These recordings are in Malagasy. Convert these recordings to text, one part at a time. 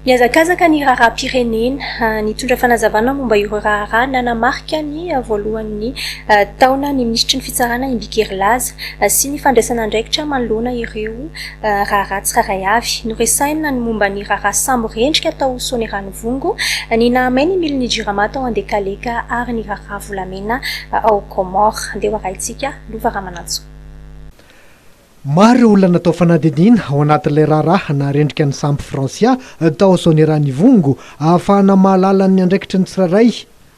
Nihazakazaka ny raharaham-pirenena nitondra fanazavana momba ireo raharaha nanamarika ny voalohan'ny taona ny minisitry ny Fitsarana i Mbikeri Laza sy ny fandraisana andraikitra manoloana ireo raharaha tsirairay avy. Noresahina ny momba ny raharaha sambo rendrika tao Soaniranivongo, ny nahamay ny milin'ny Jirama tao Andekaleka ary ny raharaha volamena ao Comores. Andeha ho arahintsika Lova Ramanantsoa. Maro ireo olona natao fanadihadiana ao anatin'ilay raharaha naharendrika ny sampy Francia tao Soanierana-Ivongo ahafahana mahalala ny andraikitry ny tsirairay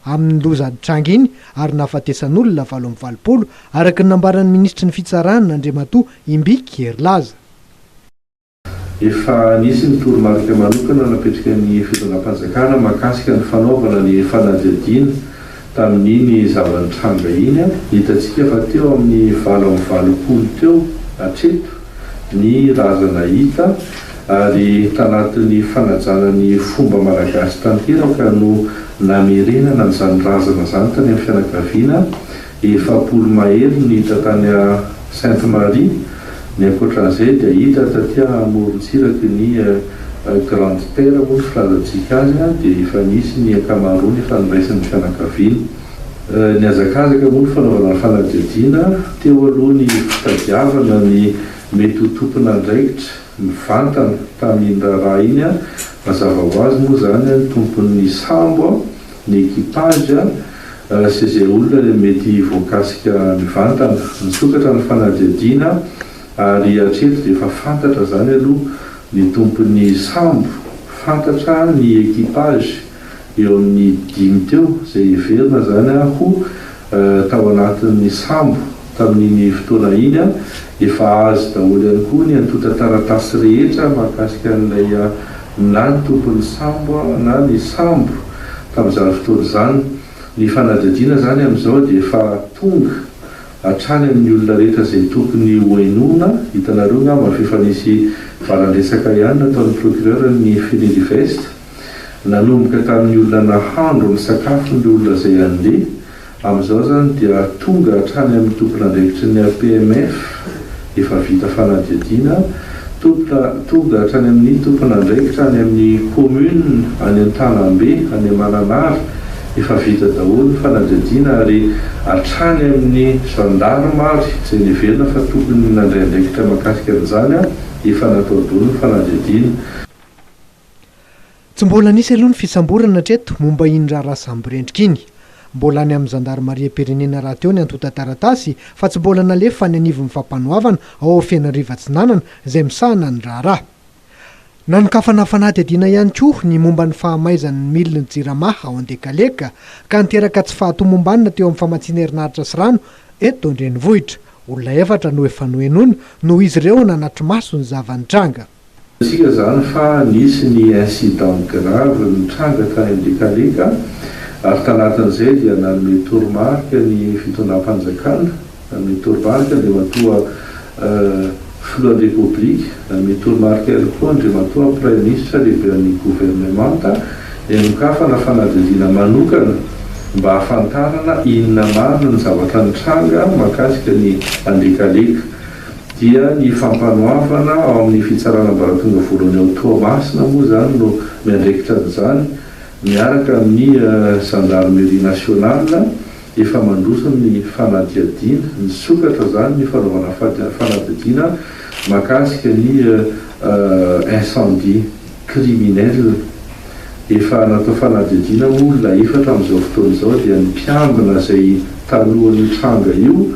amin'ny loza nitranga iny ary nahafatesan'olona valo amby valopolo, araka ny nambaran'ny minisitry ny Fitsarana, Andriamatoa Imbiky Herilaza. Efa nisy ny toromarika manokana napetraka ny fitondram-panjakana mahakasika ny fanaovana ny fanadihadiana tamin'iny zava-nitranga iny. Hitantsika fa teo amin'ny valo amby valopolo teo hatreto ny razana hita ary tanatin'ny fanajana ny fomba malagasy tanteraka no namerenana an'izany razana izany tany amin'ny fianakaviana Efapolo mahery no hita tany a Sainte Marie, ny ankoatran'izay dia hita taty a amorontsiraky ny Grande Terre moa ny filazantsika azy a, dia efa nisy ny ankamaroany efa noraisin'ny fianakaviana. Nihazakazaka moa ny fanaovana fanadihadiana teo aloha ny fitadiavana ny mety ho tompon'andraikitra mivantana tamin'iny raharaha iny a, mazava ho azy moa izany a ny tompon'ny sambo a, ny equipage a, Raha tsy izay olona dia mety voakasika mivantana. Misokatra ny fanadihadiana ary hatreto dia efa fantatra izany aloha ny tompon'ny sambo, fantatra ny equipage eo amin'ny dimy teo izay heverina izany ho tao anatin'ny sambo tamin'iny fotoana iny. Efa azo daholo ihany koa ny antontan-taratasy rehetra mahakasika an'ilay na ny tompon'ny sambo na ny sambo. tamin'izany fotoana izany. Ny fanadihadiana izany amin'izao dia efa tonga hatrany amin'ny olona rehetra izay tokony hohenoina. Hitanareo angamba f'efa nisy valan-dresaka ihany nataon'ny procureur ny Funilivest. Nanomboka tamin'ny olona nahandro ny sakafony ireo olona izay handeha. Amin'izao izany dia tonga hatrany amin'ny tompon'andraikitry ny APMF efa vita fanadihadiana, tompona tonga hatrany amin'ny tompon'andraikitra any amin'ny commune any Antanambe, any Mananara efa vita daholo ny fanadihadiana ary hatrany amin'ny gendarme ary izay niheverina fa tokony nandray andraikitra mahakasika an'izany efa natao daholo ny fanadihadiana. Tsy mbola nisy aloha ny fisamborana hatreto momba iny raharaha samborendrika iny. Mbola any amin'ny zandarimariam-pirenena rahateo ny antontan-taratasy fa tsy mbola nalefa any anivon'ny Fampanoavana ao Fianarivo Atsinanana izay misahana ny raharaha. Nanokafana fanadihadiana ihany koa ny momba ny fahamaizan'ny milin'ny Jirama ao Andekaleka ka niteraka tsy fahatomombanana teo amin'ny famatsiana herinaratra sy rano eto an-drenivohitra. Olona efatra no efa nohenoina noho izy ireo nanatri-maso ny zava-nitranga. Fantatsika izany fa nisy ny incident grave nitranga tany Ambikaleka ary tanatin'izay dia nanome toromarika ny fitondram-panjakana, nanome toromarika Andriamatoa Filohan'ny Repoblika, nanome toromarika ihany koa Andriamatoa Praiminisitra Lehiben'ny Governemanta ny hanokafana fanadihadiana manokana mba hahafantarana inona marina ny zavatra nitranga mahakasika ny Ambikaleka. dia ny fampanoavana ao amin'ny Fitsarana Ambaratonga Voalohany ao Toamasina moa izany no miandraikitra an'izany miaraka amin'ny Gendarmerie Nationale efa mandroso ny fanadihadiana. Nisokatra izany ny fanaovana fanadihadiana mahakasika ny incendie. criminels. Efa natao fanadihadiana moa olona efatra amin'izao fotoana izao dia ny mpiambina izay talohan'io tranga io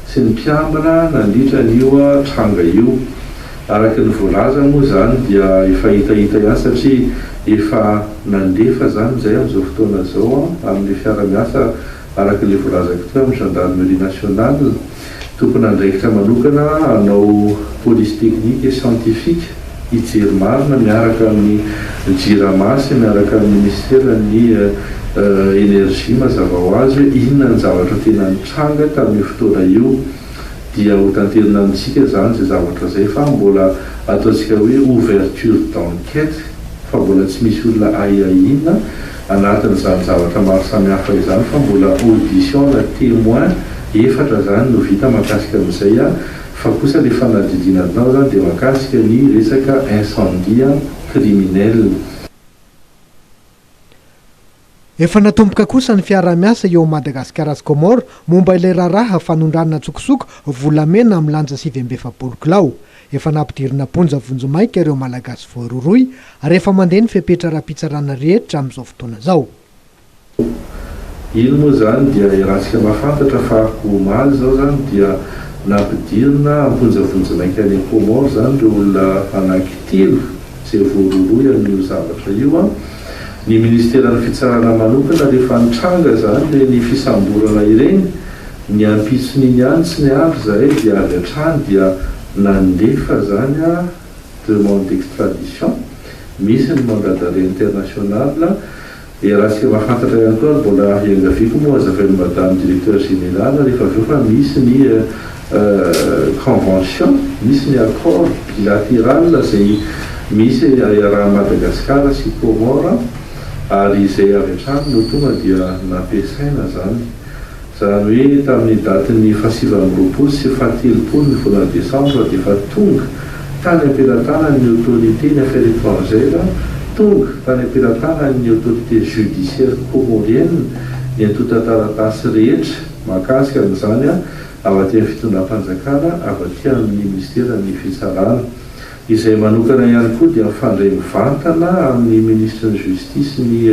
sy ny mpiambina nandritra an'io tranga io. Araka ny voalaza moa izany dia efa hitahita ihany satria efa nandefa izany izay amin'izao fotoana izao amin'ny fiara-miasa araka ilay voalazako teo amin'ny gendarmerie nationale. Tompon'andraikitra manokana hanao police technique et scientifique hijery marina miaraka amin'ny Jirama sy miaraka amin'ny Minisiteran'ny Energie mazava ho azy hoe inona ny zavatra tena nitranga tamin'io fotoana io dia hotanterina amintsika izany izay zavatra izay fa mbola ataontsika hoe ouverture d'enquête fa mbola tsy misy olona ahiahiana Anatin'izany zavatra maro samihafa izany fa mbola audition na temoin efatra zany no vita mahakasika an'izay an, fa kosa le fanadidina atao zany de mahakasika ny resaka incendie an, criminel. Efa natomboka kosa ny fiaraha-miasa eo Madagascar sy Comores momba ilay raharaha fanondranana an-tsokosoko volamena milanja sivy amby efapolo kilao. Efa nampidirina am-ponja vonjimaika ireo Malagasy voarohirohy ary efa mandeha ny fepetra ara-pitsarana rehetra amin'izao fotoana izao. Oh! Iny moa izany dia iarahantsika mahafantatra fa omaly izao izany dia nampidirina am-ponja vonjimaika any Comores izany ireo olona anankitelo izay voarohirohy amin'io zavatra io an! Ny Ministeran'ny Fitsarana manokana rehefa nitranga izany ireny fisamborana ireny Ny ampitson'iny ihany tsy niaro izahay dia avy hatrany dia nandefa izany demande d'extradition, misy ny mandat d'arret international, dia raha tsy mahafantatra ihany koa ary mbola iangaviako moa hazavain'i madame directeur général rehefa avy eo fa misy ny convention, misy ny accord bilateral izay misy iarahan'i Madagasikara sy Comores ary izay avy hatrany no tonga dia nampiasaina izany Izany hoe tamin'ny datin'ny fahasivy amby roapolo sy fahatelopolo ny volana desambra dia efa tonga tany am-pelatanan'ny autorité ny affaires étrangères, tonga tany am-pelatanan'ny autorité judiciaire comorienne ny antontan-taratasy rehetra mahakasika an'izany avy aty amin'ny fitondram-panjakana avy aty amin'ny minisiteran'ny fitsarana. Izay manokana ihany koa dia mifandray mivantana amin'ny Minisitry ny Justice ny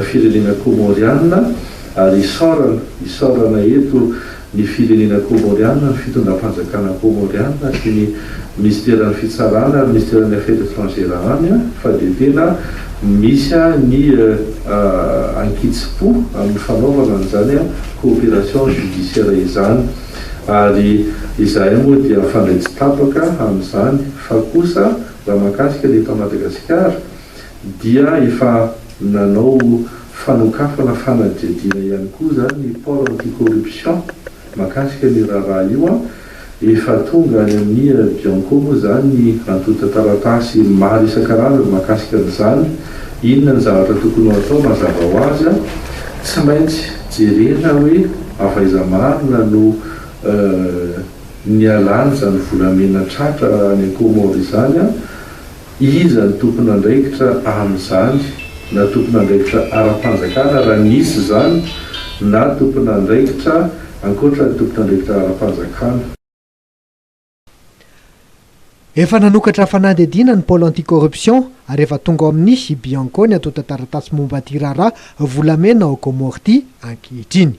firenena Kômôriana ary isaorana isaorana eto ny firenena Kômôriana, ny fitondram-panjakana Kômôriana sy ny Minisiteran'ny Fitsarana ary Minisiteran'ny Affaires Etrangères any fa dia tena misy ny ankitsim-po amin'ny fanaovana an'izany coopération judiciaire izany. Ary izahay moa dia hafandray tsy tapaka amin'izany, fa kosa raha mahakasika ny eto Madagasikara dia efa nanao fanokafana fanadihadiana ihany koa izany ny Pôle anti-corruption mahakasika ny raharaha io, efa tonga any amin'ny Bianco moa izany ny antontan-taratasy maro isan-karazany mahakasika an'izany, inona ny zavatra tokony ho atao mazava ho azy, tsy maintsy. Jerena hoe avaiza marina no nialany izany volamena tratra any Comores izany an? Iza no tompon'andraikitra amin'izany na tompon'andraikitra ara-panjakana raha nisy izany na tompon'andraikitra ankoatra ny tompon'andraikitra ara-panjakana? Efa nanokatra fanadihadiana ny Pôle anti-corruption ary efa tonga ao amin'ny i Bianco ny antontan-taratasy momba ity raharaha volamena ao Comores ity ankehitriny.